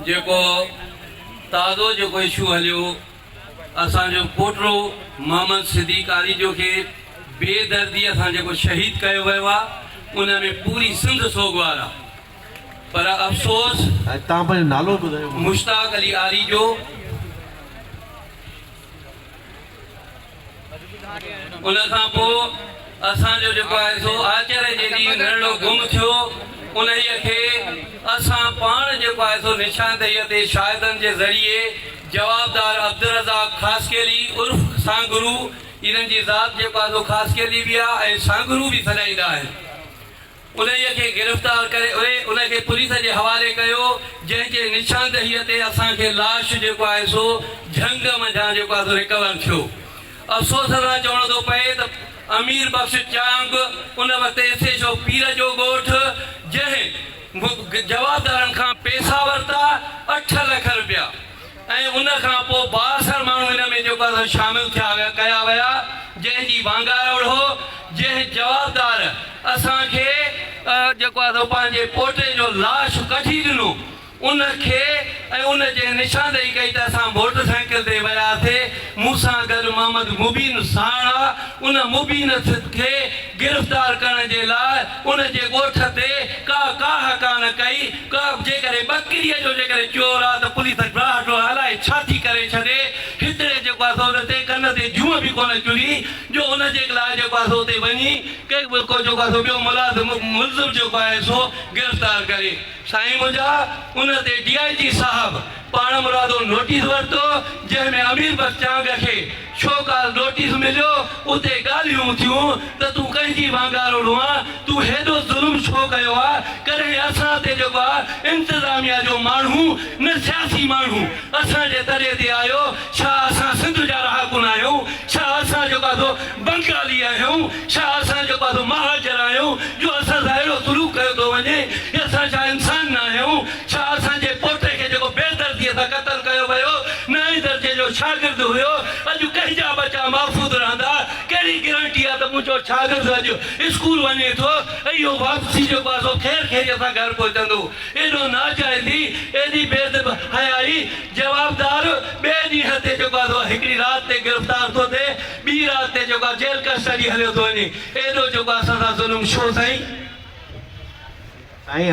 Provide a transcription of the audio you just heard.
جيڪو تازو جيڪو اشو هليو اسان جو پوٽو محمد صديق آريجو کي بي درديء سان جيڪو شهيد ڪيو ويو آ ان ۾ پوري سنڌ سوڳوار آ پر افسوس مشتاق علي آريجو ان کان پوء اسان جو جيڪو آهي سو آچري جي ڏينهن نرڙو گم ٿيو. انهيء کي اسان پاڻ جيڪو آهي سو نشاندهيء تي شاهدن جي ذريعي جوابدار عبدالرزاق خاصخيلي عرف سانگرو، انهن جي ذات جيڪو آهي سو خاصخيلي به آهي ۽ سانگرو به سڏائيندا آهن. انهيء کي گرفتار ڪري اهي ان کي پوليس جي حوالي ڪيو، جنهن جي نشاندهيء تي اسان کي لاش جيڪو آهي سو جهنگ منجهان جيڪو آهي سو ريڪور ٿيو. افسوس سان چوڻو ٿو پئي ته امير بخش چانگ ان وقت ايس ايڇ او پير جو ڳوٺ جنهن جوابدارن کان پيسا ورتا اٺ لک رپيا، ۽ ان کان پوء بااثر ماڻهو ان ۾ جيڪو سو شامل ٿيا ويا ڪيا ويا جنهن جي وانگار اڙهو جنهن جوابدار اسان کي جيڪو آهي سو پنهنجي پوٽي جو لاش ڪڍي ڏنو ان کي ۽ ان جنهن نشاندهي ڪئي ته اسان موٽر سائيڪل تي وياسي مون سان گڏ محمد مبين ساڻ آ ان مبين سٿ کي گرفتار ڪرڻ جي لاء ان جي ڳوٺ تي ڪا ڪاهه ڪانه ڪئي ڪاف جيڪڏهن ٻڪريء جو جيڪڏهن چور آ ته پوليس ڊاهه ڊوهه الائي ڇا ٿي ڪري ڇڏي، هتڙي جيڪو آ سو ان تي ڪن تي جونء به ڪونه چري جو ان جي لاء جيڪو آ سو اتي وڃي ڪي به ڪو جيڪو آ سو ٻيو ملازم ملزم جيڪو آهي سو گرفتار ڪري. سائين منهنجا ان تي ڊي آء جي صاحب پاڻمرادو نوٽيس ورتو جنهن ۾ امير بخش چانگ کي شو ڪاز نوٽيس مليو اتي ڳالهيون اٿيون ته تون ڪنهن جي وانگاروڙون آ تون هيڏو ظلم ڇو ڪيو آ ڪڏهن اسان تي جيڪو آ انتظاميا جو ماڻهو نه سياسي ماڻهو اسان جي تڏي تي آيو ڇا اسان سنڌ جا رهاڪو نه آهيون ڇا اسان جيڪو آ سو بنگالي آهيون، ڇا اسان جو ٻڌ مهاجر آهيون جو اسان سان اهڙو سلوڪ ڪيو ٿو وڃي، يا اسان ڇا انسان نه آهيون، ڇا اسان جي پوٽي کي جيڪو بي درديء سان قتل ڪيو ويو، نائين درجي جو شاگرد هيو، اڄ ڪنهنجا ٻچا محفوظ رهندا، ڪهڙي گرنٽي آهي ته منهنجو شاگرد اڄ اسڪول وڃي ٿو ۽ اهو واپسي جو پاسو خير خيريء سان گهر پهچندو، ايڏو ناجائزي، ايڏي بي حيائي، جوابدار ٻئي ڏينهن تي جو ٻڌ هڪڙي رات تي گرفتار ٿو ٿئي، ٻي رات تي جيڪو آ جيل ڪسٽڊي هليو ٿو وڃي ايڏو جيڪو آ اسان سان ظلم ڇو سائين. سائين